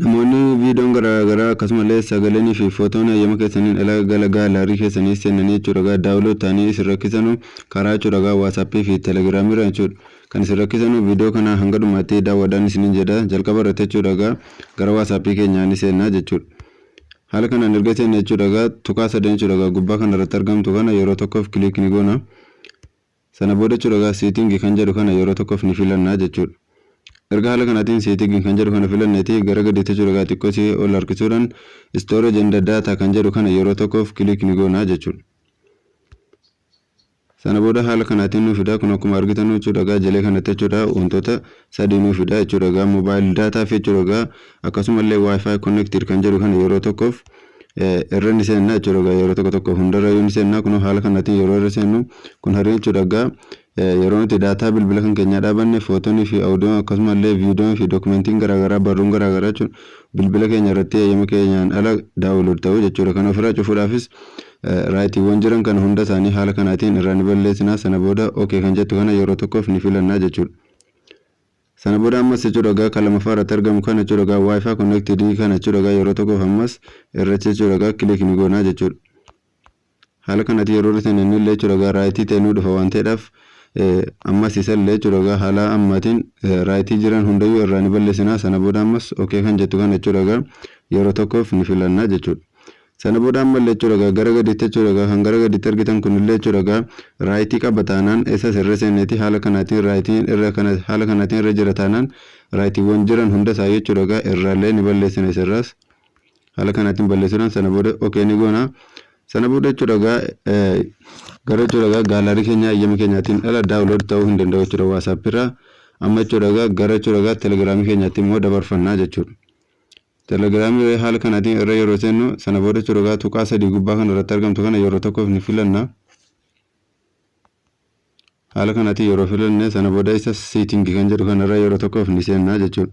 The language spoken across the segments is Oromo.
Namoonni viidoon garaa garaa akkasumale sagalen fi fotoon hayyama keessaniin ala gala gaalaarii keessanii seenanii jechuudha download ta'anii isin rakkisanu karaa jechuudha whatsapp fi telegram irra jechuudha kan isin rakkisanu viidoo kana hanga dhumaatti daawwadhaan isinin jedha jalqaba irratti jechuudha gara whatsapp keenyaa ni seennaa jechuudha haala kanaan erga seenne jechuudha tuqaa sadeen jechuudha gubbaa kana irratti argamtu kana yeroo tokkoof click ni goona Sana booda jechuudha egaa setting kan jedhu kana yeroo tokkoof ni filanna jechuudha. Erga haala kanaatiin setting kan jedhu kana filanneeti gara gadiitti jechuudha egaa xiqqoo si ol harkisuudhaan storage and data kan jedhu kana yeroo tokkoof click ni goona jechuudha. Sana booda haala kanaatiin nu fidaa kun akkuma argitan jechuudha egaa jalee kanatti jechuudha wantoota sadii nuu fida jechuudha egaa mobile data fi jechuudha egaa akkasumallee wifi connected kan jedhu kana yeroo tokkoof irra ni seenna jechuudha egaa yeroo tokko tokko hundarra yoo ni seenna kun haala kanaatiin yeroo irra seennu kun harree jechuudha egaa yeroo nuti daataa bilbila kan keenyaa dhaabanne footoonii fi audiyoon akkasumallee viidiyoon fi dookumentiin garaagaraa barruun garaagaraa jechuun bilbila keenya irratti eeyyama keenyaan ala daawulood ta'u jechuudha kan ofirraa cufuudhaafis raayitiiwwan jiran kana hunda isaanii haala kanaatiin irraa ni balleessinaa sana booda ok kan jettu kana yeroo tokkoof ni filannaa jechuudha. Sana booda ammas jechuu dhagaa kan lamaffaa irratti argamu kana jechuu dhagaa wifi connected kana jechuu dhagaa yeroo tokkoof ammas irratti jechuu dhagaa click ni goonaa jechuudha. Haala kanatti yeroo irratti hin illee jechuu dhagaa raayitii ta'e nu dhufa waan ta'eedhaaf ammas isa illee jechuu dhagaa haala ammaatiin raayitii jiran hundayyuu irraa ni balleessinaa sana booda ammas ok kan jettu kana jechuu dhagaa yeroo tokkoof ni filannaa jechuudha. Sana booda ammallee jechuudha egaa gara gadiitti jechuudha egaa kan gara gadiitti argitan kunillee jechuudha egaa raayitii qaba taanaan isas irra seenneeti haala kanaatiin raayitiin irra kana haala kanaatiin irra jira taanaan raayitiiwwan jiran hunda isaa jechuudha egaa irraallee ni balleessina isirraas haala kanaatiin balleessuudhaan sana booda okee ni goona sana booda jechuudha egaa gara jechuudha egaa gaalaarii keenya ayyama keenyaatiin ala daawulood ta'uu hin danda'u jechuudha waasaappiirraa amma jechuudha egaa gara jechuudha egaa telegiraamii keenyaatti immoo dabarfannaa jechuudha. Telegram irra haala kanaatiin irra yeroo seennu sana booda chorogaa tuqaa sadii gubbaa kana irratti argamtu kana yeroo tokkoof ni filanna. Haala kanaatiin yeroo filanne sana booda isa setting kan jedhu kana irra yeroo tokkoof ni seenna jechuudha.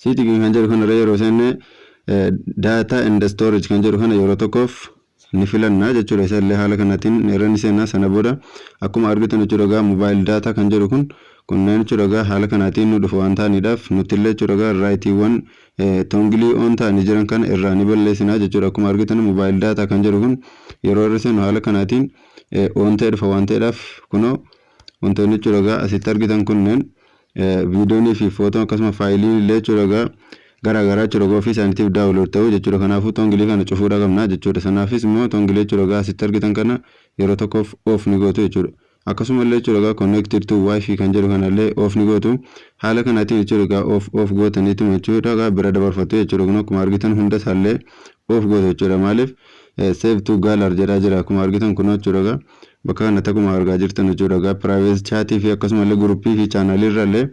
Setting kan jedhu kana irra yeroo seenne data and storage kan jedhu kana yeroo tokkoof ni filanna jechuudha isa illee haala kanaatiin irra ni seenna sana booda akkuma argitan jechuudha egaa mobile data kan jedhu kun kunneen jechuudha egaa haala kanaatiin nu dhufu waan ta'aniidhaaf nutti illee jechuudha egaa raayitiiwwan tongilii oon ta'anii jiran kana irraa ni balleessinaa jechuudha akkuma argitan mobile data kan jedhu kun yeroo irra seenu haala kanaatiin oon ta'e dhufa waan ta'eedhaaf kunoo Wantoonni jechuudha egaa asitti argitan kunneen viidiyoonii fi footoon akkasuma faayiliin illee jechuudha egaa garaa garaa jechuudha egaa ofii isaaniitiif daawulood ta'u jechuudha kanaafuu tongilii kana cufuudha qabna jechuudha sanaafis immoo tongilii jechuudha egaa asitti argitan kana yeroo tokkoof oof ni gootu jechuudha akkasuma illee jechuudha egaa connected to wifi kan jedhu kana illee oof ni gootu haala kanaatiin jechuudha egaa oof oof gootaniituma jechuudha egaa bira dabarfatu jechuudha kun akkuma argitan hunda isaa illee oof gootu jechuudha maaliif save to galar jedhaa jira akkuma argitan kun jechuudha egaa Bakka kanatti akkuma argaa jirtan jechuudha egaa private chat fi akkasumallee group fi channel irrallee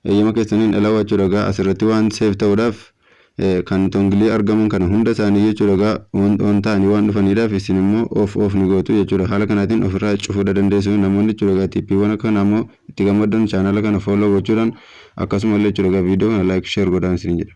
eeyyama keessaniin alawaa jechuudha egaa asirratti waan save ta'uudhaaf kan tongilii argaman kana hunda isaanii jechuudha egaa on on ta'anii waan dhufaniidhaaf isin immoo off off ni gootu jechuudha haala kanaatiin ofirraa cufuudha dandeessu namoonni jechuudha egaa tippiiwwan akka kanaa immoo itti gammaddan channel kana follow gochuudhaan akkasumallee jechuudha egaa viidiyoo kana like share godhaan isin jedha.